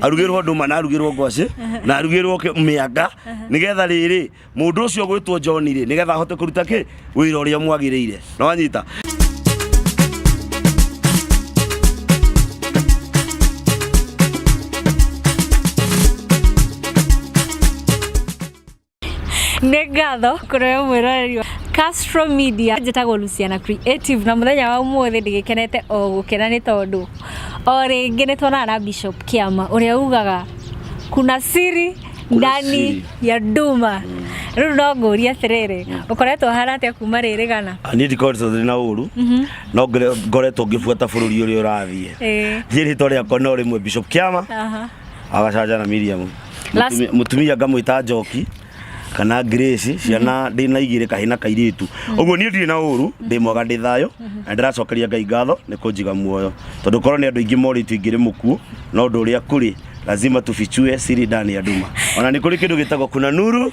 arugĩrwo ndũma na arugĩrwo ngwacĩ na arugĩrwo kĩ- mĩanga nĩgetha rĩrĩ mũndũ ũcio gwĩtwo John rĩ nĩgetha ahote kũruta kĩ wĩra ũrĩa mwagĩrĩire na wanyita nĩ ngatho kũrĩ we mwĩroreri wa Castro Media njĩtagwo Luciana Creative na mũthenya wa ũmũthĩ ndĩgĩkenete o gũkena nĩ tondũ o rĩngĩ nĩ tuonana na Bishop Kĩama ũrĩa ugaga kuna siri Kuna ndani siri. ya nduma rĩu no ngũrie atĩrĩrĩ ũkoretwo hana atĩa kuma rĩrĩ gana niä ndikoretwo ndä na å ru no ngore- ngoretwo ngä buata bå rå ri å rä a å rathiä Ĩĩ. thiä rä two rä akwa no rä mwe bishop kä ama Aha. agacaja na Miriam Last- Mũtumia- mũtumia ngamwĩta njoki kana Grace ciana ndĩ na igĩrĩ kahĩ na kairĩtu ũguo niĩ ndirĩ na ũru ndĩ mwega ndĩ thayũ na ndĩracokeria Ngai ngatho nĩ kũnjiga muoyo tondũ korwo nĩ andũ aingĩ morĩtio ingĩrĩ mũkuo no ũndũ ũrĩa kũrĩ lazima tufichue siri ndani ya nduma ona nĩ kũrĩ kĩndũ gĩtagwo kuna nuru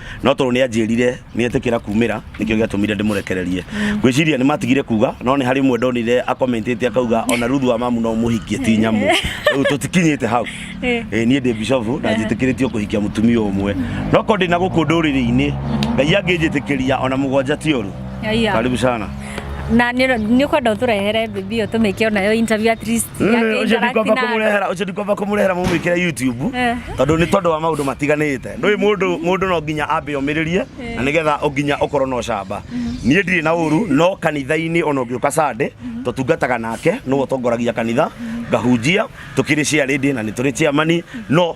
No tondũ nĩ aanjĩrire nĩetĩkĩra kuumĩra, nĩkĩo gĩatũmire ndĩmũrekererie. Ngwĩciria nĩ maatigire kuuga, no nĩ harĩ ũmwe ndonire acomentĩte akauga, o na Ruthu wa mamu no ũmũhikie ti nyamũ. Rĩu tũtikinyĩte hau. Ĩ, niĩ ndĩ bishofu na njĩtĩkĩrĩtio kũhikia mũtumia ũmwe. No korwo ndĩ na gũkũ ndũrĩrĩ-inĩ, Ngai angĩnjĩtĩkĩria o na mũgwanja ti ũru. Haiya. Karibu sana. Na nĩ nĩ ũkwenda ũtũrehere bibi ĩyo tũmĩke o nayo interview at least. Yake ucio ndikwamba interact na- kumurehera ucio ndikwamba kumurehera mumwikire youtube Eh. tondu ni tondu wa maundu matiganite ndui mundu mundu no nginya ambe omiririe na nigetha nginya ukorwo no camba nie ndiri na uru no kanitha-ini ona ungiuka sande tutungataga nake nĩwe ũtongoragia kanitha ngahunjia tukiri ciarindi na nĩ tũrĩ ciamani no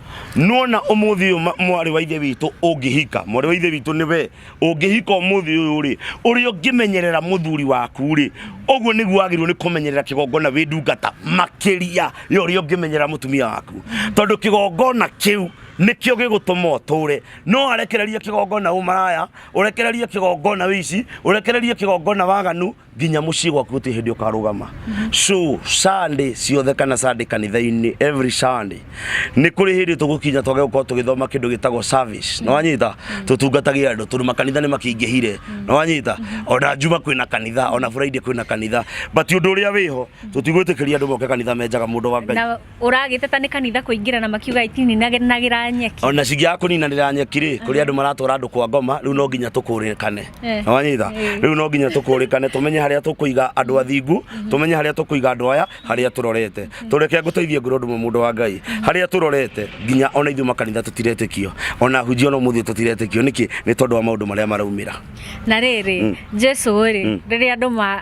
nona umuthi uyu mwari wa ithe witu ungihika mwari wa ithe witu ni we ungihika umuthi uyu ri uri ungimenyerera muthuri waku ri uguo niguo wagirwo ni kumenyerera kigongona wi ndungata makiria yo uri ungimenyerera mutumia waku tondu kigongona kiu nikio gigutuma uture no arekererie kigongona umaraya urekererie kigongona wici urekererie kigongona waganu nginya muciĩ gwaku gũtirĩ hĩndĩ ũkarũgama so sunday ciothe kana sunday kanitha-inĩ every sunday nĩ kũrĩ hĩndĩ tũgũkinya twage gũkorwo tũgĩthoma kĩndũ gĩtagwo service na wanyita tũtungatage andũ tondũ makanitha nĩ makĩingĩhire na wanyita ona njuma kwĩna kanitha ona friday kwĩna kanitha but ũndũ ũrĩa wĩho tũtigwĩtĩkĩria andũ moke kanitha menjaga mũndũ wa ngai Na ũragĩteta nĩ kanitha kũingĩra na makiuga itininagĩra nyeki ona cingĩaga kũninanĩra nyeki rĩ kũrĩ andũ maratwara andũ kwa ngoma rĩu no nginya tũkũrĩkane Eh. na wanyitha Eh. rĩu no nginya tũkũrĩkane tũmenye harĩa tũkũiga andũ athingu tũmenye harĩa tũkũiga andũ aya harĩa tũrorete tũreke ngũteithie ngũrũ ndũmwe mũndũ wa ngai harĩa tũrorete nginya ona ithuĩ makanitha tũtiretĩkio ona hunjia ona mũthĩ tũtiretĩkio nĩkĩ nĩ tondũ wa maũndũ marĩa maraumĩra na rĩrĩ jesu rĩ rĩrĩa andũ ma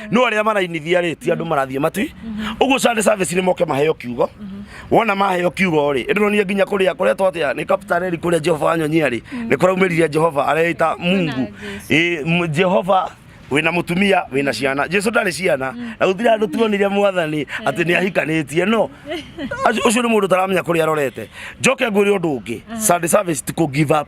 no arĩa marainithia rĩ ti andũ marathiĩ matwi ũguo Sunday service nĩ moke maheo kiugo wona maheo kiugo rĩ ĩndĩronie nginya kũrĩa kũrĩa twatia nĩ kaptareri kũrĩa Jehova wanyonyia rĩ nĩ kũraumĩrire Jehova areita Mungu Ĩ, m- Jehova wina mutumia wina ciana jesu ndarĩ ciana na gutire andu tuonire mwathani ati ni ahikanitie no acu- ucio ni mundu taramenya kuria arorete njoke ngwire undu ungi sunday service ti ku give up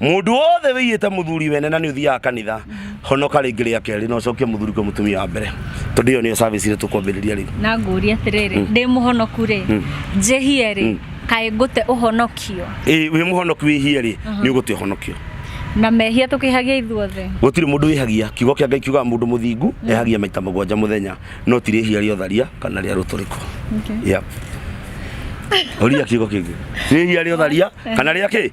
mundu wothe wĩiyĩte muthuri wene na nĩ ũthiaga kanitha honoka rĩngĩ rĩa kerĩ na ũcokie muthuri kwa mutumia wa mbere tondũ iyo niyo service ĩrĩa tũkwambĩrĩria rĩu na ngũria atĩrĩrĩ mm. ndĩ mũhonoku rĩ mm. njĩhie rĩ mm. kaĩ ngũte ũhonokio ĩ wĩ mũhonoku wĩhie rĩ uh-huh. nĩ ũgũte ũhonokio na mehia tukihagia ithuothe gutiri mundu wihagia kiugo kia ngai kiugaga mundu muthingu mm. ehagia maita mugwanja muthenya no tiri ihia ria tharia kana ria ruturiko okay. yeah. oria kiugo kingi ihia ria tharia eh. kana ria ki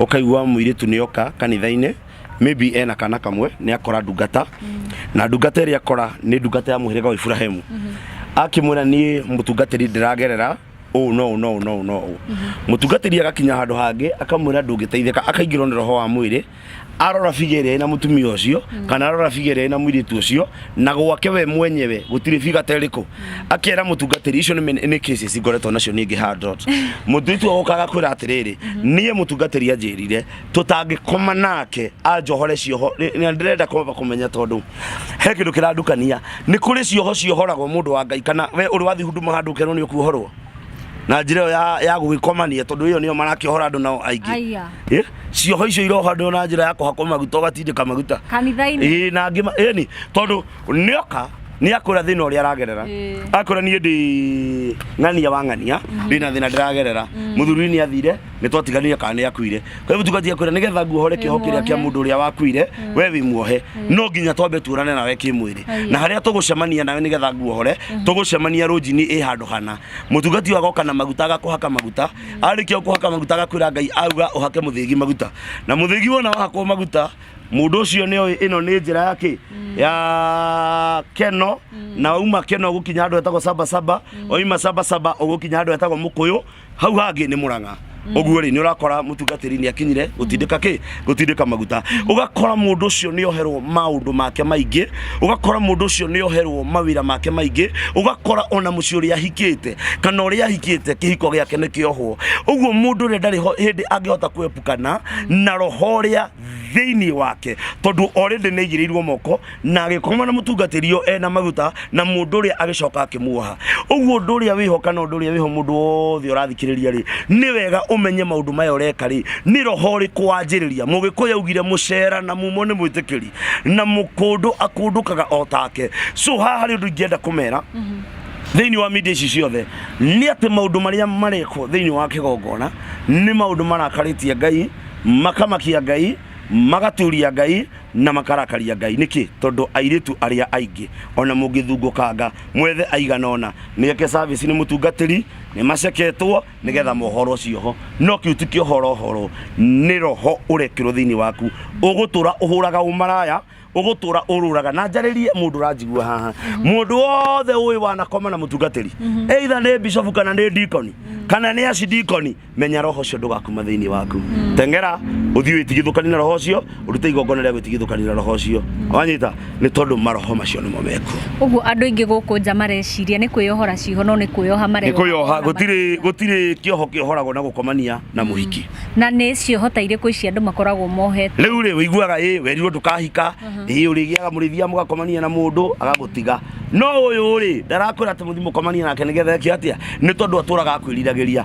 ũkaigua mũirĩtu nĩ oka kanitha-inĩ maybe ena kana kamwe nĩ akora ndungata na ndungata ĩrĩa akora nĩ ndungata ya mũhĩrĩga wa Iburahĩmu akĩmwĩra niĩ mũtungatĩri ndĩragerera ũũ no ũũ no ũũ no ũũ no ũũ mũtungatĩri agakinya handũ hangĩ akamwĩra ndũngĩteithĩka akaingĩrwo nĩ roho wa mwĩrĩ arora biga ĩrĩa ĩna mũtumia ũcio kana arora biga ĩrĩa ĩna mũirĩtu ũcio na gwake we mwenyewe gũtirĩ biga ta ĩrĩkũ akera mũtungatĩri icio nĩ men- nĩ cases ngoretwo nacio ningĩ handot mũirĩtu agokaga kwĩra atĩrĩrĩ niĩ mũtungatĩri anjĩrire tũtangĩkoma nake anjohore cioho nĩ- na ndĩrenda kwamba kũmenya tondũ he kĩndũ kĩrandukania nĩ kũrĩ cioho ciohoragwo mũndũ wa ngai kana we ũrĩ wathiĩ huduma handũ ũkerwo nĩ ũkuohorwo na njĩra ĩyo ya, ya gũgĩkomania tondũ ĩyo nĩyo marakĩohora andũ nao aingĩ Aya. Eh? cioho icio irohandwo na njĩra ya kũhakwo maguta ũgatindĩka maguta kanitha-inĩ ĩĩ na angĩ ma- ĩni tondũ nĩoka nĩ akwĩra thĩna ũrĩa aragerera Ĩĩ. akwĩra niĩ ndĩ ng'ania wa ng'ania ndĩ na thĩna ndĩragerera mũthuri nĩ athire nĩ twatiganire kana nĩ akuire kwa hivyo tũgathiĩ kwĩra nĩgetha nguohore kĩoho kĩrĩa kĩa mũndũ ũrĩa wakuire we wĩ muohe no nginya twambe tuonane nawe kĩmwĩrĩ Ĩĩ. na harĩa tũgũcemania nawe nĩgetha nguohore tũgũcemania rũnjinĩ ĩ handũ hana mũtungati ũyũ agoka na maguta agakũhaka maguta arĩkia o kũhaka maguta agakwĩra ngai auga ũhake mũthĩgi maguta na mũthĩgi wona wahakwo maguta mũndũ ũcio nĩ oĩ ĩno nĩ njĩra ya kĩ ya keno na wauma keno ũgũkinya handũ hetagwo saba saba wauma saba saba ũgũkinya handũ hetagwo mũkũyũ hau hangĩ nĩ mũrang'a ũguo rĩ nĩ ũrakora mũtungatĩri nĩ akinyire gũtindĩka kĩ gutindika maguta ugakora mundu ucio ni oherwo maundu make maingi ugakora mundu ucio ni oherwo mawira make maingi ugakora ona muci uria hikite kana uria hikite kihiko giake ni kiohwo uguo mundu uria ndari hindi angihota kwepukana na roho uria thiini wake tondu already ni aigiriirwo moko na agĩkoma na mũtungatĩri ũyũ ena maguta na mũndũ ũrĩa agĩcoka akĩmuoha ũguo ũndũ ũrĩa wĩho kana ũndũ ũrĩa wĩho mũndũ wothe ũrathikĩrĩria rĩ nĩ wega ũmenye maũndũ maya ũreka rĩ nĩ roho ũrĩkũ wanjĩrĩria mũgĩkũyũ augire mũcera na mumo nĩ mwĩtĩkĩri na mũkũndũ akũndũkaga o take so haha harĩ ũndũ ingĩenda kũmera thĩinĩ wa media ici ciothe nĩ atĩ maũndũ marĩa marekwo thĩinĩ wa kĩgongona nĩ maũndũ marakarĩtie ngai makamakia ngai magaturia ngai na makarakaria Ngai. Nĩkĩ? Tondũ airĩtu arĩa aingĩ, ona mũngĩthungũkanga mwethe aigana ũna meke service nĩ mũtungatĩri, nĩ maceketwo nĩgetha mohorwo cioho. No kĩu ti kĩohorohoro, nĩ roho ũrekĩrwo thĩinĩ waku. Ũgũtũra ũhũraga ũmaraya, ũgũtũra ũrũraga. Na njarĩrie mũndũ ũranjigua haha, mũndũ wothe ũĩ wanakoma na mũtungatĩri, either nĩ bishop kana nĩ deacon, kana nĩ archdeacon, menya roho ũcio ndũgakuma thĩinĩ waku teng'era ũthiĩ wĩtigithũkani na roho ũcio ũrute igongona rĩa gwĩtigithũkani na roho ũcio wanyita nĩ tondũ maroho macio nĩmo meku Ũguo andũ aingĩ gũkũ nja mareciria nĩ kwĩyohora ciho no nĩ kwĩyoha nĩ mareyoha. kwĩyoha gũtirĩ gũtirĩ kĩoho kĩohoragwo na gũkomania na mũhiki Na nĩ cioho ta irĩkũ ici andũ makoragwo mohete? rĩu rĩ ũiguaga ĩ werirwo ndũkahika ĩ ũrĩgĩaga mũrĩthia mũgakomania na mũndũ agagũtiga no ũyũ rĩ ndarakwĩra atĩ mũthi mũkomanie nake nĩgetha eke atĩa nĩ tondũ atũraga akwĩriragĩria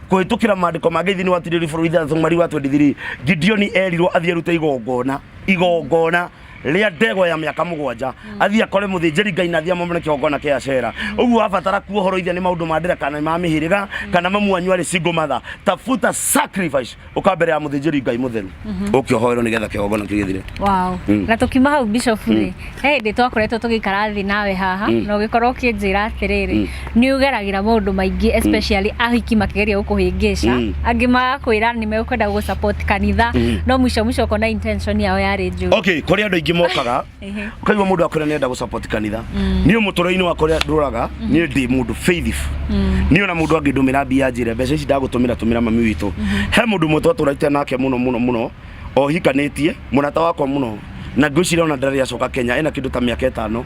kũhĩtũkĩra maandĩko mangĩ thĩinĩ wa tirĩri bũrũri ithathatũ mweri wa 23 gideoni erirwo athiĩ arute igongona igongona rĩa ndegwa ya mĩaka mũgwanja athiĩ akore mũthĩnjĩri ngai na athiĩ amomere kĩgongona kĩa acera ũguo abatara kuohoroithia nĩ maũndũ ma ndĩra kana nĩ ma mĩhĩrĩga kana mamwanyu arĩ single mother tafuta sacrifice ũka mbere ya mũthĩnjĩri ngai mũtheru ũkĩohoerwo nĩgetha kĩgongona kĩu gĩthire Wow. Mm. Na tukiuma hau bishop rĩ, he hĩndĩ twakoretwo tũgĩikara thĩ nawe haha Mm. na ũgĩkorwo ũkĩnjĩra atĩrĩrĩ Mm. nĩ ũgeragĩra maũndũ maingĩ especially ahiki makĩgeria gũkũhĩngĩca Mm. angĩ magakwĩra nĩ mekwenda gũ support kanitha Mm. no mũico mũico ũkona intention yao yarĩ njũru okay kũrĩ andå aingä mokaga Ehe. ũkaigua må ndå akwä ra nä enda gå support kanitha Mm. niä må tå rä-inä wakwa rä a ndå raga niä ndä må ndå faithful Mm. niä ona må ndå angä ndå mä ra mbia njä re mbeca ici ndagå tå mä ra tå mä ra mami witå he må ndå mwe twatå raite nake må no må no må no o hikanĩtie mũrata wakwa mũno na ngwĩciria ona ndarĩ acoka Kenya ena kĩndũ ta mĩaka ĩtano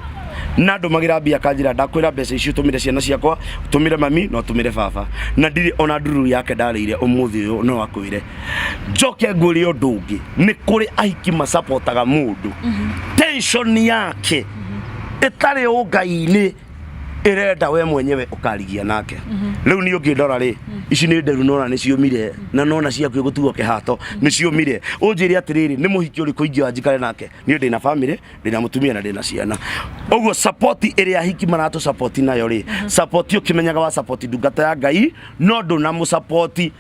na ndũmagĩra mbia kanjĩra ndakwĩra mbeca icio tũmĩre ciana ciakwa tũmĩre mami na tũmĩre baba na ndirĩ ona nduru yake ndarĩire ũmũthĩ ũyũ no akwĩre njoke ngwĩre ũndũ ũngĩ nĩ kũrĩ ahiki masapotaga mũndũ tension yake ĩtarĩ ũngai-inĩ ĩrenda we mwenyewe ũkarigia nake rĩu niĩ ũngĩndora rĩ ici nĩ nderu nona nĩ ciũmire na nona ciaku gũtuo kĩhato nĩ ciũmire ũnjĩre atĩrĩrĩ nĩ mũhiki ũrĩkũ ingĩoya njikare nake niĩ ndĩna bamĩrĩ ndĩna mũtumia na ndĩna ciana ũguo support ĩrĩa ahiki maratũ support nayo rĩ support ũkĩmenyaga wa support ndungata ya ngai no ndũnamũ support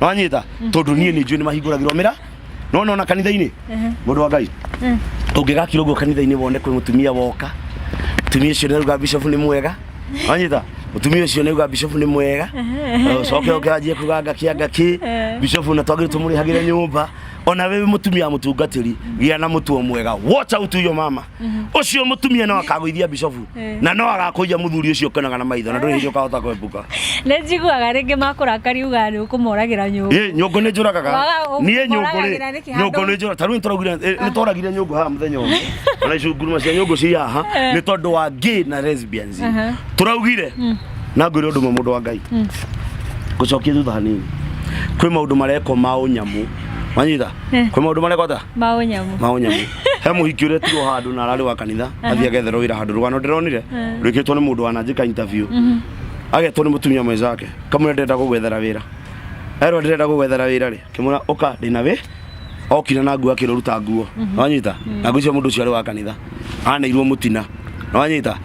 wanyita tondu nie ni njui ni mahinguragirwo mira no no na kanitha-ini mundu wa ngai ungigakira uguo kanitha-ini wone kwi mutumia woka mutumia ucio niruga bishop ni mwega wanyita mutumia ucio niruga bishop ni mwega ucoke uke anjie kuga ngaki ngaki bishop na twagire tumurihagire nyumba ona we mutumia mutungatiri gia na mutuo mwega watch out yo mama ucio mutumia no akagwithia bishofu Eh. na no agakuia muthuri ucio ukenaga na maitho na nduri hindi ukahota kwebuka nä njiguaga rä ngä makorakari uga nä å kå moragä nyå Ĩ, nyũngũ nĩ njũragaga Waga- ũ- niĩ nyũngũ ũmoragagĩra rĩ nĩkĩ handũ- nyũngũ nĩ njũra tarĩu nĩtũraugire ĩ, nĩtwaragire nyũngũ haha mũthenya ũmwe ona icunguruma cia nyũngũ ci haha nĩ tondũ wa gay na lesbians Aha. tũraugire na ngwĩre ũndũ ũmwe mũndũ wa ngai ngũcokie thutha hanini kwĩ maũndũ marekwo ma ũnyamũ wanyita Eh. kwĩ maũndũ marekwo ta maå nyamå ma ũnyamũ he muhiki uria tirwo handu na arari wa kanitha athia getherwo wira handu rugano ndironire rwikitwo ni mundu wananjika interview agetwo ni mutumia mwenzake kamwe ndenda gugwethera wira erwo ndenda gugwethera wira ri kimura uka ndina wi okire na nguo akiruruta nguo wanyita na nguo cio mundu ucio ari wa kanitha aneirwo mutina wanyita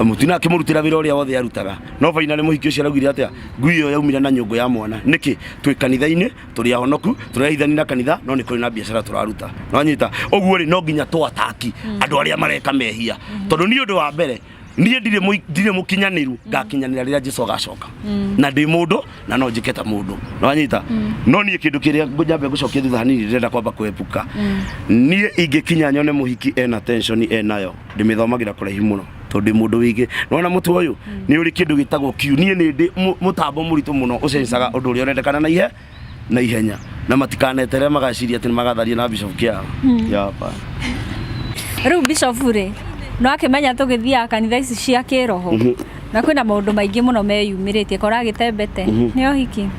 mutina akimurutira wira uria wothe arutaga no fainali muhiki ucio araugire atia ngui iyo yaumire na nyungu ya mwana niki twi kanitha-ini tũrĩ ahonoku tũrehithani na kanitha no nĩ kũrĩ na biacara tũraruta nonyita ũguo rĩ no nginya twataki mm. andũ arĩa mareka mehia mm. tondũ nĩ ũndũ wa mbere niä ndirä må kinyanä ru mm. ngakinyanä ra rä rä a jesu agacoka mm. na ndä må ndå na no njä ke ta må ndå nanyita mm. no niä kä ndå kä rä a njambe gå cokia thutha hanini ndä kwamba kwebuka niä ingä kinya nyone må hiki ena enayo ndä mä thomagä ra kå raihi må no tondũ ndĩ mũndũ wĩngĩ nona mũtwe ũyũ mm. nĩ ũrĩ kĩndũ gĩtagwo kiu niĩ nĩ ndĩ mũtambo mũritũ mũno ũcencaga ũndũ ũrĩa ũrendekana na ihe na ihenya na matikanetere magaciria atĩ nĩ magatharia na bishop kĩa mm. yapa rĩu bishop rĩ no akĩmenya tũgĩthiaga kanitha ici cia kĩroho mhm. na kwĩna maũndũ maingĩ mũno meyumĩrĩtie kora agĩtembete mhm. nĩ ohiki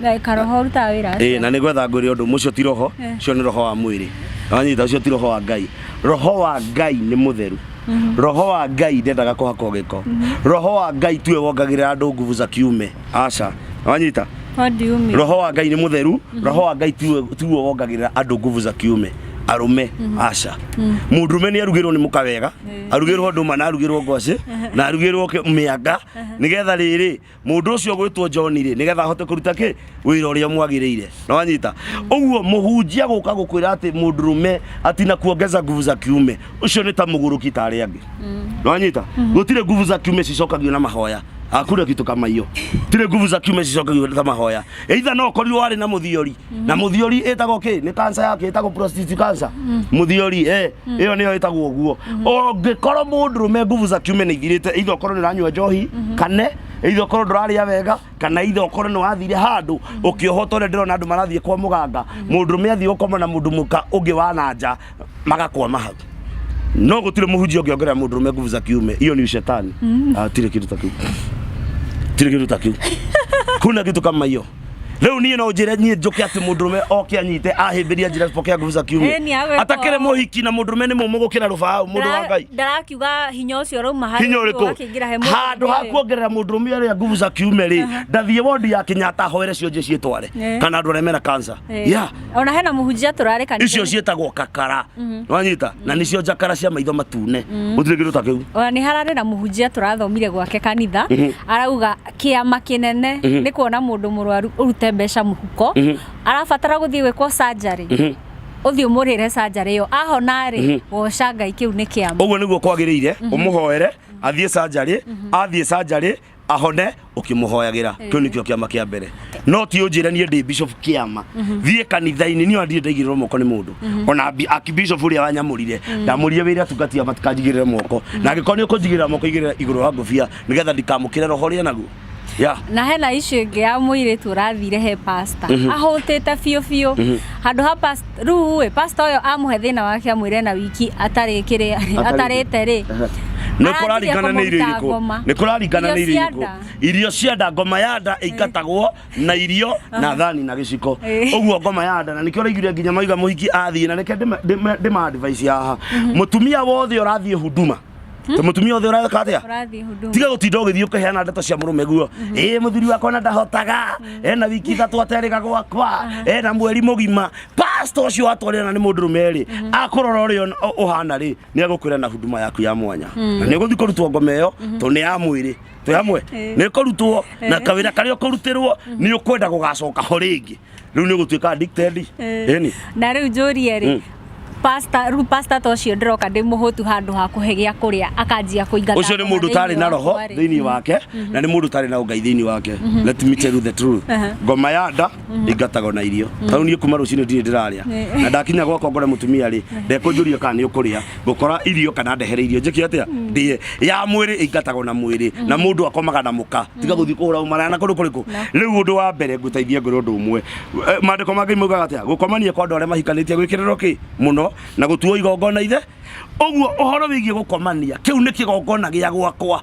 Na karoho rutaga wĩra Ĩĩ, aca. na nĩ gwetha ngwĩre ũndũ mũcio ti roho Eh. ũcio nĩ roho wa mwĩrĩ wanyita ũcio ti roho wa ngai roho wa ngai nĩ mũtheru roho wa ngai ndendaga kũhakwo gĩko roho wa ngai tuwe wongagĩrĩra andũ nguvu za kiume aca wanyita What do you mean? roho wa ngai nĩ mũtheru roho wa ngai tiwe tiwe wongagĩrĩra andũ nguvu za kiume arũme aca mũndũme nĩ arugĩrwo nĩ mũka wega arugĩrwo ndũma na arugĩrwo ngwacĩ na arugĩrwo kĩ- mĩanga nĩgetha rĩrĩ Mũndũ ũcio ũgwĩtwo John-rĩ, nĩgetha ahote kũruta kĩ? Wĩra ũrĩa mwagĩrĩire. Na wanyita? Ũguo mũhunjia gũka gũkwĩra atĩ mũndũrũme ati na kuongeza nguvu za kiume, ũcio nĩ ta mũgũrũki ta arĩa angĩ. Na wanyita? Gũtirĩ nguvu za kiume cicokagio na mahoya. Hakuna kitu kama hiyo. Tirĩ nguvu za kiume cicokagio na mahoya. Either no ũkorirwo warĩ na mũthiori, na muthiori ĩtagwo kĩ nĩ kansa yake ĩtagwo prostate cancer muthiori eh ĩyo nĩyo ĩtagwo ũguo ũngĩkorwo mũndũrũme nguvu za kiume nĩ ithirĩte either ũkorwo nĩ ũranyua njohi kane either ũkorwo ndũrarĩa wega kana either ũkorwo nĩ wathire handũ ũkĩohwo ta ũrĩa ndĩrona andũ marathiĩ kwa mũganga mũndũrũme athiĩ gũkoma na mũndũ mũka ũngĩ wa na nja magakoma hau no gũtirĩ mũhunjia ũngĩongerera mũndũrũme nguvu za kiume iyo ni ushetani Ah, tirĩ kĩndũ ta kĩu tirĩ kĩndũ ta kĩu kuna kitu kama hiyo riu nie no njire nie njuke ati mundurume oke anyite ahimbiria njira pokea nguvu za Eh, kiume ni agwĩka atakire ũũ. muhiki na mundurume ni mumu gukira rubau mundu wa ngai ndarakiuga hinya ũcio ũrauma harĩ hinya ũcio ũgakĩingĩra he ũrĩkũ mũndũ handå ha ũngĩ. kuongerera må ndå rå rä nguvu za kiume rä ndathiä wondi ya kenyatta hoere cionje ciätware Eh. kana andå arä a mena kansa Eh. ya ona hena mũhunjia tũrarĩ kanitha-inĩ. icio ciätagwo kakara wanyita na nä cio njakara cia maitho matune gå tirä kä ndå ta kä u ona nä hararä na må hunjia tå rathomire gwake kanitha arauga kĩama kĩnene Mhm. nĩ kuona mũndũ mũrwaru ũrute mbeca mũhuko Mhm. arabatara gũthiĩ gwĩkwo sanjarĩ Mhm. ũthiĩ ũmũrĩre sanjarĩ ĩyo ahona rĩ Mhm. woca ngai kĩu nĩ kĩama ũguo nĩguo kwagĩrĩire ũmũhoere athiĩ sanjarĩ athiĩ sanjarĩ ahone ũkĩmũhoyagĩra kĩu nĩkĩo kĩama kĩa mbere no ti ũnjĩre niĩ ndĩ bishop kĩama thiĩ kanitha-inĩ niĩ ndirĩ ndaigĩrĩrwo moko nĩ mũndũ ona bi- aki bishop ũrĩa wanyamũrire ndamũrire wĩra atungatia matikanjigĩrĩre moko na angĩkorwo nĩ ũkũnjigĩrĩra moko igĩrĩra igũrũ wa ngũbia nigetha ndikamukire roho ria naguo ya na hena icio ingĩ ya mũirĩtu ũrathire he pasta Mhm. ahũtĩte biũ biũ Mhm. handũ ha past- rĩu ĩ pasta ũyũ amũhe thĩna wake amwĩre na wiki atarĩ kĩrĩa Atarĩ- atarĩte rĩ nä kå rarigana nä irio irä kå nä kå rarigana nä irio irä kå irio cia nda ngoma ya nda ĩingatagwo na irio na thani na gĩciko Eh. ũguo ngoma ya nda na nĩkĩo ũraiguire nginya maiga mũhiki athiĩ na reke ndĩma- ndĩma- ndĩma advice haha mũtumia wothe ũrathiĩ huduma ta mutumia othe ureka atia Ũrathiĩ huduma. tiga gutinda ugithii ukiheana ndeto cia murume guo ii muthuri wakwa na ndahotaga ena wiki ithatu aterega gwakwa ena mweri mugima pastor ucio watwarira na ni mundu rume ri akurora uri uhana ri ni agukwira na huduma yaku ya mwanya na ni uguthi kurutwo ngoma iyo to ni ya mwiri twi hamwe ni kurutwo na kawira karia ukurutirwo ni ukwenda gugacoka ho ringi rĩu nĩ ũgũtuĩka addicted Eh. ĩni na rä u njå rie rä pasta rä u pasta ta å cio ndä roka ndä må hå tu handå ha kå he gä a kå rä a akanjia kå ingata ucio ni ngoma mundu thĩinĩ utari na wakwa roho rĩ. thiini wake na ni mundu utari na ungai thiini wake let me tell you the truth Aha. ngoma ya nda ingatago na irio tau nie kuma rucini ndiri ndiraria Nĩ. na ndakinya gwakwa ngore mutumia ri ndekunjuria kana ni ukuria ngukora irio kana ndehere irio njike atia hmm. ndie ya mwiri ingatagwo na mwiri hmm. na mundu akomaga na muka hmm. tiga guthi kuhura umara na kundu kuriku riu undu wa mbere nguteithie ngure undu umwe eh, mandiko ma ngai maugaga atia gukomania kwa andu aria mahikanitie gwikiriro ki muno na gutuo igongona ithe uguo uhoro wigie gukomania kiu ni kigongona gia gwakwa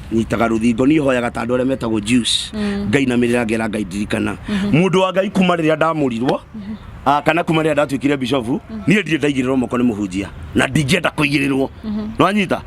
nyitaga rũthingo niĩ hoyaga ta andũ arĩa metagwo Jews mm. ngainamĩrĩra ngera ngai ndirikana mm-hmm. mũndũ wa ngai kuma rĩrĩa ndamũrirwo mm-hmm. ah, kana kuma rĩrĩa ndatuĩkire bishofu mm-hmm. niĩ ndirĩ ndaigĩrĩrwo moko nĩ mũhunjia na ndingĩenda kũigĩrĩrwo nĩ wanyita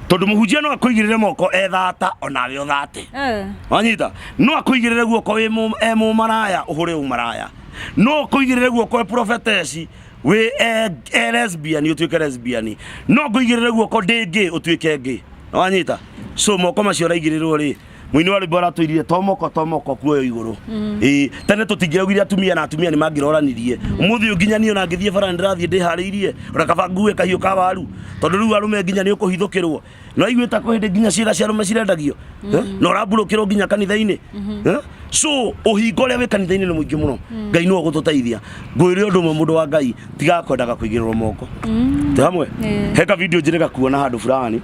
tondu muhunjia no akuigirire moko ethata onawe uthate eh. wanyita no akuigirire guoko e mumaraya uhure umaraya no akuigirire guoko e prophetesi wĩ e- e lesbian ũtuĩke lesbian no ngũigĩrĩre guoko ndĩ ngĩ ũtuĩke ngĩ wanyita so moko macio ũraigĩrĩrwo rĩ mũini wa rwĩmbo aratwĩrire tomoko tomoko kuoyo igũrũ ĩĩ tene tũtingĩaugire atumia na atumia nĩ mangĩroranirie mũthĩ ũyũ nginya niĩ ona ngĩthiĩ bara nĩ ndĩrathiĩ ndĩharĩirie ona kaba ngue kahiũ ka waru tondũ rĩu arũme nginya nĩ ũkũhithũkĩrwo no igue ta ko hindi nginya ciira cia rume cirendagio Eh? na urambulukirwo nginya kanitha-ini Eh? so uhingo uria wi kanitha-ini ni muingi muno ngai no gututeithia ngwire undu umwe mundu wa ngai tiga kwendaga kuigirwo moko ti hamwe Eh. he ka video njire gakuona handu fulani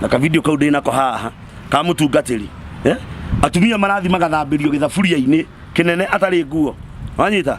na ka video kau ndinako haha ka mutungatiri Eh? atumia marathi magathambirio githaburia-ini kinene atari nguo wanyita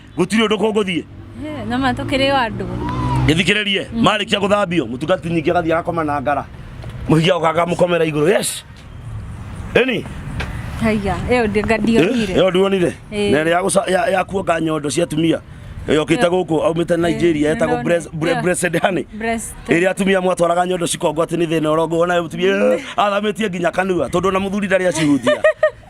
gũtirĩ ũndũ kũngũthiĩ Eh, na ma tũkĩrĩ o andũ gĩthikĩrĩrie marĩkia gũthambio mũtungati nyingĩ agathiĩ agakoma na ngara mũhikia ũkaga mũkomera igũrũ yes ĩni haiya ĩyo ndi- nga ndionire ĩyo ndionire Ĩĩ. na ĩrĩa ya gũca- ya- ya kuonga nyondo cia atumia yokĩte gũkũ aumĩte nigeria Ĩĩ, yetagwo nĩndona. Brez- Bre- Ĩyo. Blessed Honey Breast. ĩrĩa atumia mwatwaraga nyondo cikongo atĩ nĩ thĩna ũrongo wona mũtumia "Eh, athamĩtie nginya kanua tondũ ona mũthuri ndarĩ acihutia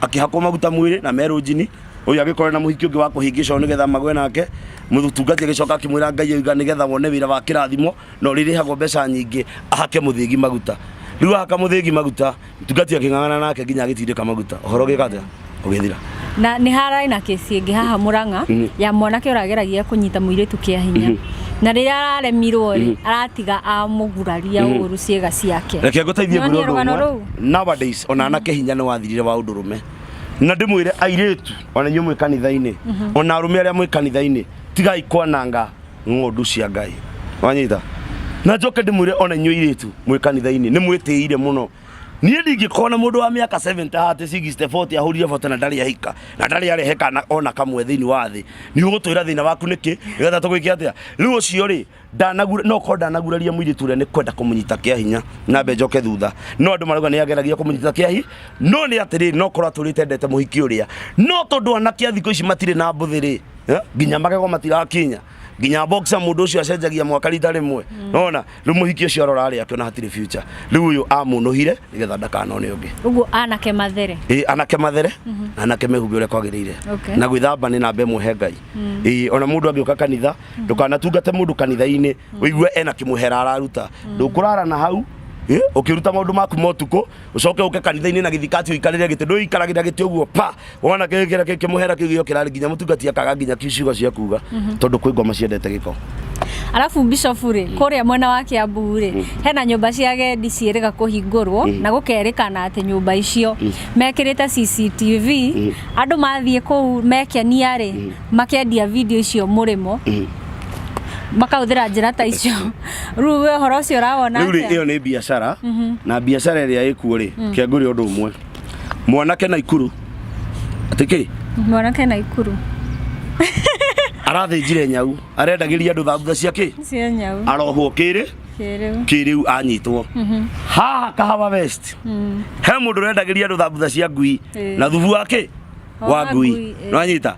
akĩhakwo maguta mwĩrĩ na merũ njini ũyũ agĩkorwo na mũhiki ũngĩ wa kũhĩngĩcwo nĩgetha magwe nake mũtungati agĩcoka akĩmwĩra ngai oiga nĩgetha wone wĩra wa kĩrathimo na ũrĩrĩhagwo mbeca nyingĩ ahake mũthĩgi maguta rĩu ahaka mũthĩgi maguta mtungati akĩng'ang'ana nake nginya agĩtindĩka maguta ũhoro ũgĩka atĩa ũgĩthira na nĩ harai na kesi ĩngĩ haha mũrang'a mm. ya mwanake ũrageragia kũnyita mũirĩtu kĩa hinya mm -hmm. na rĩrĩa araremirwo rĩ mm -hmm. aratiga amũguraria mm -hmm. ũru ciĩga ciake reke ngũteithie ngũrũgano rũu nowadays ona anake hinya nĩ wathirire wa ũndũ rũme na ndĩmwĩre airĩtu ona inyuĩ mwĩ kanitha-inĩ ona arũme arĩa mwĩ kanitha-inĩ tigai kwananga ng'ondu cia ngai wanyita na njoke ndĩmwĩre ona inyuĩ airĩtu mwĩ kanitha-inĩ nĩ mwĩtĩire mũno niĩ ndingĩkorwo na mũndũ wa mĩaka 70 haha 60 40 ahũrire bote na ndarĩ ahika na ndarĩ arehe kana ona kamwe thĩinĩ wa thĩ nĩ ũgũtwĩra thĩna waku nĩkĩ nĩgetha tũgwĩke atĩa rĩu ũcio rĩ ndanagura no ko ndanaguraria muiritu ria ni kwenda kumunyita kia hinya na mbe njoke thutha no andu marauga ni ageragia kumunyita kia hi no ni atiri no korwo aturite ndete muhiki uria no tondu anakia thikå ici matire na mbuthi ri eh, nginya magego matirakinya nginya boxer mundu ucio acenjagia mwaka rita rimwe mm. nona riu muhiki ucio arora ari akiona hatire future riu uyu amunuhire nigetha ndakanone ungi uguo anake mathere ii anake mathere mhm. anake mehumbe uria kwagirire na gwithamba ni namba imwe he ngai mm. ii ona mundu angiuka kanitha ndukanatungate mundu kanitha-ini wigue ena kimuhera araruta ndukurara na hau eh, ukiruta maundu maku motuko ucoke uke kanitha-ini na githikati uikarire giti nduikaragira giti uguo pa wona kigira kimuhera kiu giokirari nginya mutungati akaga nginya kiucigo cia kuga tondu kwi ngoma ciendete giko arabu bishop rĩ kũrĩa mwena wa kĩambu rĩ hena nyũmba cia agendi ciĩrĩga kũhingũrwo na gũkerĩkana atĩ nyũmba icio mekĩrĩte cctv andũ mathiĩ kũu mekenia rĩ makendia video icio mũrĩmo mm. makahũthĩra njĩra ta icio rĩu we ũhoro ũcio ũrawona rĩu rĩ ĩyo nĩ biacara mhm. na biacara ĩrĩa ĩkuo rĩ mm. kĩangũrĩ ũndũ ũmwe mwanake na ikuru atä kä mwanake na ikuru arathĩnjire nyau arendagĩria andå thambutha cia kä arohwo kä rä kä rä u anyitwo mhm. haha kahawa west mm. he må ndå rendagä ria andå thambutha cia ngui na thubu wa kä wa Wa ngui ngui, eh. nĩwanyita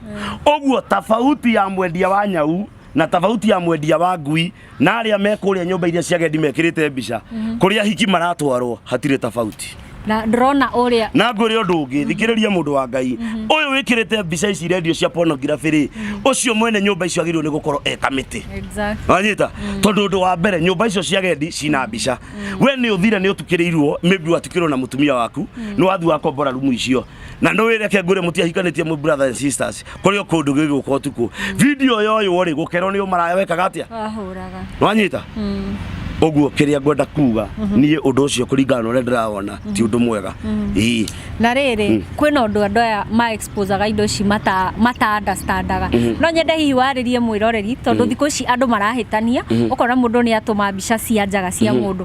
ũguo tabauti ya mwendia wa nyau na tabauti ya mwendia wa ngui na arĩa me kũrĩa nyũmba iria cia gendi mekĩrĩte mbica kũrĩa ahiki maratwarwo hatirĩ tabauti na ndĩrona ũrĩa na ngwĩre ũndũ ũngĩ thikĩrĩria mũndũ wa ngai ũyũ wĩkĩrĩte mbica ici rendio cia pornography rĩ ũcio mwene nyũmba icio agĩrĩirwo nĩ gũkorwo e kamĩtĩ exactly wanyita tondå å ndå wa mbere nyå mba icio cia gendi cina mbica we nä å thire nä å tukä rä irwo maybe watukä rwo na må tumia waku nä wathiä wakombora rumu icio na nä wä reke ngwä re må tiahikanä tie må brother and sisters kå rä o kå ndå gä gå ka å tukå video yoywo rä gå kerwo nä å maraya wekaga atä a wahũraga nwanyita Mm. å guo kä rä a ngwenda kuga niä å ndå å cio kå ringana na å rä a ndä rawona ti å ndå mwega Ii. na rĩrĩ kwĩ na ũndũ andũ aya ma exposaga indo ici mata mata understandaga no nyende hihi warĩrie mwĩroreri tondũ thikũ ici andũ marahĩtania ũkona mũndũ nĩ atũma mbica cia njaga cia mũndũ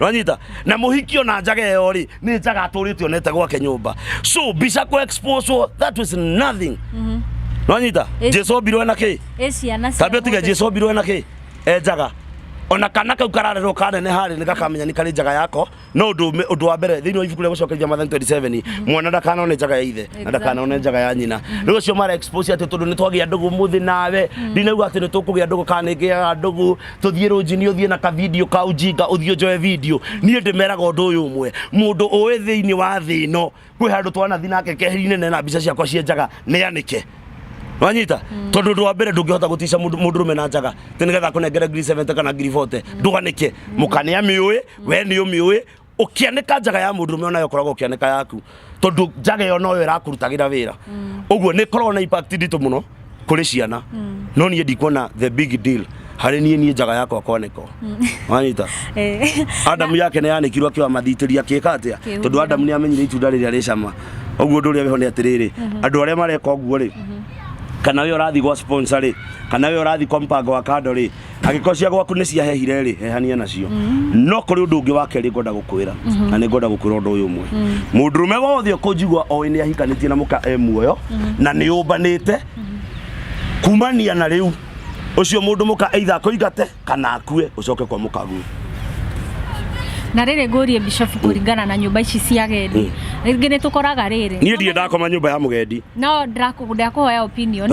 rwanyita na mũhiki ona njaga ĩyo rĩ nĩ njaga atũrĩte onete gwake nyũmba so mbica kũ expose wo, that was nothing rwanyita Ĩci- jesu ombirwo na kĩ ĩ ciana cia tambia tiga mũndũ. jesu ombirwo na kĩ e njaga ona kana kau kararerwo kanene harĩ nĩ gakamenya nĩ karĩ njaga yako no ũndũ ũme- ũndũ wa mbere thĩinĩ wa ibuku rĩa gũcokeria mathani 27 mwana ndakanone njaga ya ithe na ndakanone njaga ya nyina rĩu ũcio mara expose atĩ tondũ nĩ twagĩa ndũgũ mũthĩ nawe ndinauga atĩ nĩ tũkũgĩa ndũgũ kana nĩ ngĩaga ndũgũ tũthiĩ rũnjinĩ ũthiĩ na kavidio ka ũjinga ũthiĩ ũnjoe vidio niĩ ndĩmeraga ũndũ ũyũ ũmwe mũndũ ũĩ thĩinĩ wa thĩ ĩno kwĩ handũ twanathi nake keheri-inĩ nena mbica ciakwa cienjaga nĩanĩke wanyita tondũ ũndũ wa mbere ndũngĩhota gũtica mũndũ mũndũ rũme na njaga tĩ nĩgetha akũnengere ngiri 70 kana ngiri 40 ndũganĩke mũkanĩa mĩũĩ we nĩ ũmĩũĩ ukianeka njaga ya mundu rume onayo koragwo ukianeka yaku tondu njaga yo noyo irakũrutagĩra wĩra uguo nĩ koragwo na impact nditũ mũno kũrĩ ciana no niĩ ndikuona the big deal harĩ niĩ niĩ njaga yakwa kwanĩkwo wanyita Eh, Adamu yake nä yanäkirwo akä wamathitĩria akä ka atä a Akĩhumba. tondå Adamu nä amenyire itunda rä rä a rä cama ũguo ũndå ũrĩa wĩho nĩ atĩrä rä andå arĩa mareka ũguo rĩ kana wä å rathiĩ gwa sponsor rĩ kana wä å rathiĩ kwa mpango wa kando rĩ angĩkorwo cia gwaku nĩ ciahehire rĩ hehania nacio mm-hmm. no kũrĩ ũndũ ũngĩ wa kerĩ ngwenda gũkwĩra mm-hmm. na nĩ ngwenda gũkwĩra ũndũ ũyũ ũmwe mm-hmm. mũndũrũme wothe ũkũnjigua oĩ nĩ ahikanĩtie na mũka e muoyo na nĩ ũmbanĩte kumania na rĩu ucio mundu muka either akoigate kana akue ucoke kwa mukagu na rä rä ngå rie bishofu kå ringana na nyå mba ici cia gendi mm. rä ngä nä tå koraga rä rä niä ndiä ndakoma nyå mba ya må gendi no ndakå hoya opinion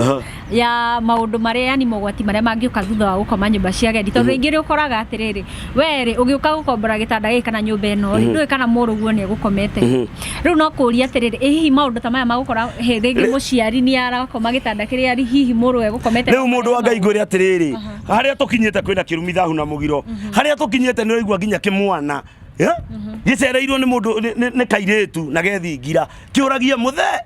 ya maundu maria yani mogwati maria mangĩũka thutha wa gũkoma nyũmba cia agendi tondũ rĩngĩ rĩ ũkoraga atĩrĩrĩ we rĩ ũgĩũka gũkombora gĩtanda gĩkĩ kana nyũmba ĩno rĩ ndũĩ kana mũrũguo nĩ egũkomete rĩu no kũria atĩrĩrĩ ĩ hihi maũndũ ta maya magũkora hĩ rĩngĩ mũciari nĩ arakoma gĩtanda kĩrĩa rĩ hihi mũrũ egũkomete rĩu mũndũ wa ngai ngwĩre atĩrĩrĩ harĩa tũkinyĩte kwĩna kĩrumi thahu na mũgiro harĩa tũkinyĩte nĩ ũraigua nginya kĩmwana eh? gĩcereirwo nĩ mũndũ nĩ- nĩ nĩ kairĩtu na gethingira kĩũragia mũthee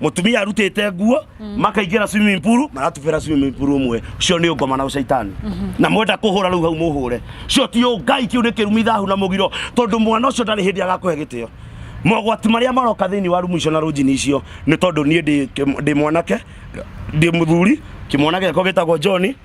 mutumia arutite nguo makaingira swimming pool maratubira swimming pool umwe cio ni ngoma na ucaitani na mwenda kuhura riu hau muhure cio ti ngai kiu ni kirumi thahu na mugiro tondu mwana ucio ndari hindi agakuhe gitio mogwati maria maroka thiini wa rumu icio na runjini icio ni tondu nie ndi mwanake ndi muthuri kimwanake gako gitagwo John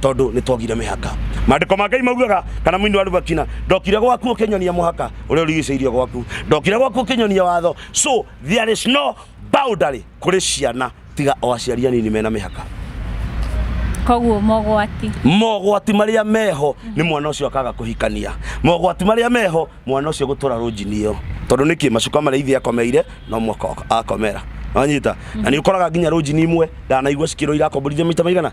tondå nä twogire mä haka mandäko ma ngai maugaga kana mwini wa rubakina ndokire gwaku å kä nyonia må haka å rä a å rigicä irie gwaku ndokire gwaku å kä nyonia watho so there is no boundary kå rä ciana tiga o aciari anini mena mä haka koguo mogwati mogwati marĩa meho nĩ mwana ũcio akaga kũhikania mogwati marĩa meho mwana ũcio gũtũra rũnjini ĩyo tondũ nĩkĩ macuka marĩa ithe akomeire no mwaka akomera wanyita na nĩ ũkoraga nginya rũnjini imwe ndanaigua cikĩrũira akomborithia maita maigana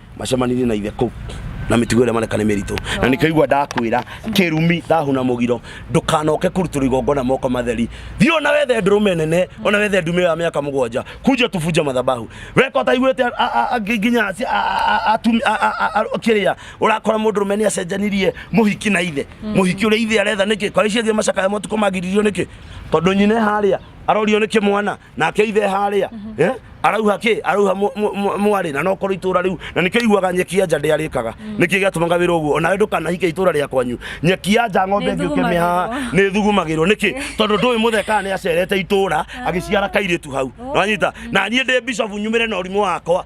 macemanirie na ithe kũu na mĩtugo ĩrĩa mareka nĩ mĩritũ na nĩkĩigua ndakwĩra kĩrumi ndahuna mũgiro ndũkanoke kũrutũrwo igongona moko matheri thiĩ ona wethe ndũrũme nene ona wethe ndume ya mĩaka mũgwanja kunja tubunja mathabahu weka ũtaiguĩte a- a- a- ngi- nginya aci- a- a- a- atumi- a- a- a- a- kĩrĩa ũrakora mũndũrũme nĩ acenjanirie mũhiki na ithe mũhiki ũrĩa ithe aretha nĩkĩ kwa icio ingĩ macakaya matukũ magiririo nĩkĩ tondũ nyine harĩa arorio nĩ kĩmwana nake ithe harĩa eh, arauha kä arauha mw- mw- mw- mwarĩ na nokorwo itũra rĩu na nĩkĩo iguaga nyeki ya nja ndĩarĩkaga nĩkĩo gĩatũmaga wĩra ũguo onawe ndũkanahike itũra rĩa kwanyu nyeki ya nja ng'ombe ĩngĩ ũkĩmĩhaha nĩ thugumagĩrwo nĩkĩ tondũ ndũĩ mũthekaga nĩ acerete itũra agĩciara kairĩtu hau wanyita na niĩ ndĩ bishofu nyumĩre na ũrimũ wakwa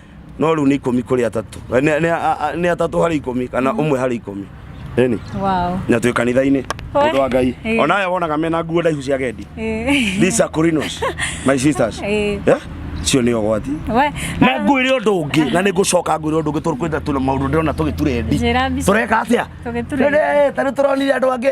no rĩu nĩ ikũmi kũrĩ atatũ Nĩ- nĩ- a- a- nĩ atatũ harĩ ikũmi kana ũmwe harĩ ikũmi ĩni wow na twĩ kanitha-inĩ Oe. mũndũ wa ngai Ĩĩ. onawe wonaga mena nguo ndaihu cia gendi Eh, these are Corinos, my sisters Ĩĩ. Eh? cio nĩ ũgwati we na ngwĩre ũndũ ũngĩ na nĩ ngũcoka ngwĩre ũndũ ũngĩ tũkwenda tũna maũndũ ndĩrona tũgĩturendi Njĩra mbica. tũreka atĩa Tũgĩturendi. Rĩrĩ, ta rĩu tũronire andũ angĩ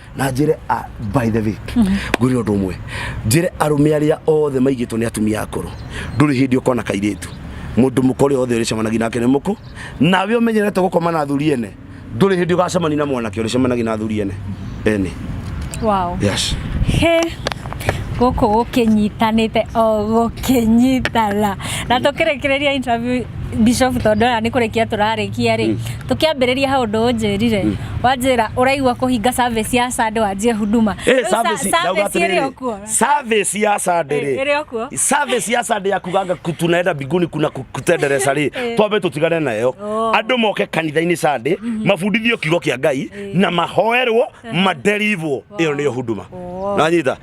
na njire a by the way ngwire undu umwe njire arume aria othe maigitwo ni atumia akuru nduri hindi ukona kairitu mundu mukore othe uricemanagia nake ni muku nawe umenyerete gukoma na athuri ene nduri hindi ugacemania na mwanake uricemanagia na athuri ene ene wow yes he guku gukinyitanite o gukinyitana na tukirekereria interview bishop tondu ona ni kurikia turarikia ri tukiambiriria hau ndu unjirire wanjĩra ũraigua kũhinga service ya Sunday wanjie huduma Eh, Rĩu sa- service- ndauga service ĩrĩ atĩrĩrĩ, okuo service ya Sunday rĩ, Eh, ĩrĩ okuo. service ya Sunday ya kuganga ku- tunaenda mbinguni kuna ku- kutendereza rĩ Eh. twambe tũtigane nayo Oh. andũ moke kanitha-inĩ Sunday mabundithio kiugo kĩa Ngai na mahoerwo maderivwo ĩyo nĩyo huduma Oh. nanyita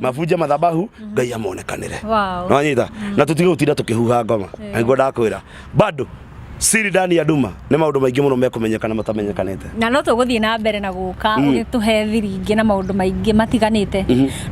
mabunje mathabahu ngai amonekanire Wow. nonyita na tutige gutinda tukihuha ngoma niguo ndakwira bado siri ndani ya nduma nä maå ndå maingä må no mekåmenyekana matamenyekanäte na no tũgũthiĩ na mbere na gũka ũgĩtũhe thiri ingĩ na maũndũ maingĩ matiganĩte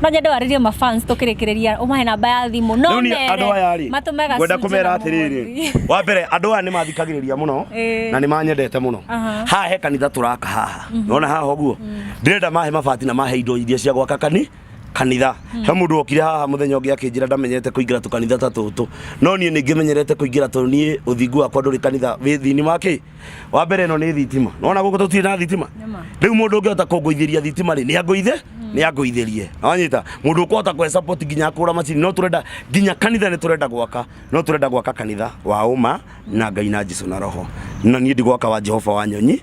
no nyende warĩrie mafans tũkĩrĩkĩrĩria ũmahe namba ya thimũ no rä u nĩ mere, andå aya rä matũme ngwenda gacunjĩ kå mera na atä rä rä mũhothi. wa mbere andå aya nä mathikagä rä ria må no Ĩĩ. na nä manyendete må no Aha. haha he kanitha tå raka haha nona haha ũguo ndĩrenda mahe mabati na mahe indo iria cia gwaka kani kanitha he mundu okire haha muthenya ungi akinjira ndamenyerete kuingira tu kanitha ta tutu no nie ningi menyerete kuingira tu nie uthingu wakwa nduri kanitha wi thini wa ki wa mbere no ni thitima nona guku tutire na thitima Nĩma. riu mundu ungiota kunguithiria thitima ri ni anguithe ni anguithirie wanyita mundu ukuhota kwe support nginya akura macini no turenda nginya kanitha ni turenda gwaka no turenda gwaka kanitha wa uma na ngai na jesu na roho na nie ndigwaka wa jehova wa nyonyi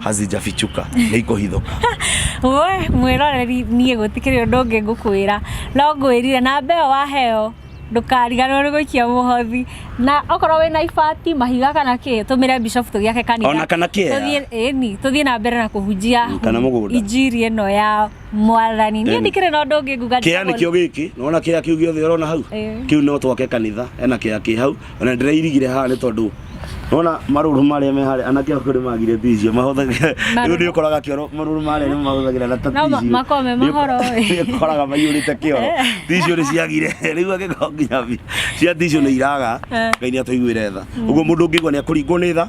hazijafichuka nĩikũhithũka we mwĩroreri niĩ gũtikĩrĩ ũndũ ũngĩ ngũkwĩra no ngwĩrire namba ĩyo waheo ndũkariganĩrwo nĩ gũikia mũhothi na okorwo wĩ na ibati mahiga kana kĩ tũmĩre bishop tũgĩake kanitha Ona kana kĩea. Tũthiĩ- ĩni tũthiĩ na mbere na kũhunjia Mm, kana mũgũnda. injiri ĩno ya mwathani niĩ Ĩni. ndikĩrĩ na ũndũ ũngĩ nguga kĩea njagwo- nĩkĩo gĩkĩ nona kĩea kĩu gĩothe ũrona hau Ĩĩ. kĩu no twake kanitha ena kĩea kĩ hau ona ndĩrairigire haha nĩ tondũ nona marũrũ marĩa me harĩa anake akorwo nĩ magire tizio mahũthagĩra rĩu nĩ ũkoraga kĩoro marũrũ marĩa nĩ mahũthagĩra na ta No ma- tizio makoragwo me mahoro ĩ. nĩ ũkoraga maiyũrĩte kĩoro tizio nĩ ciagire rĩu angĩkorwo nginya bi- cia tizio nĩ iraga Eh. ngai nĩ atũiguĩre tha ũguo mũndũ ũngĩigua nĩ akũringwo nĩ tha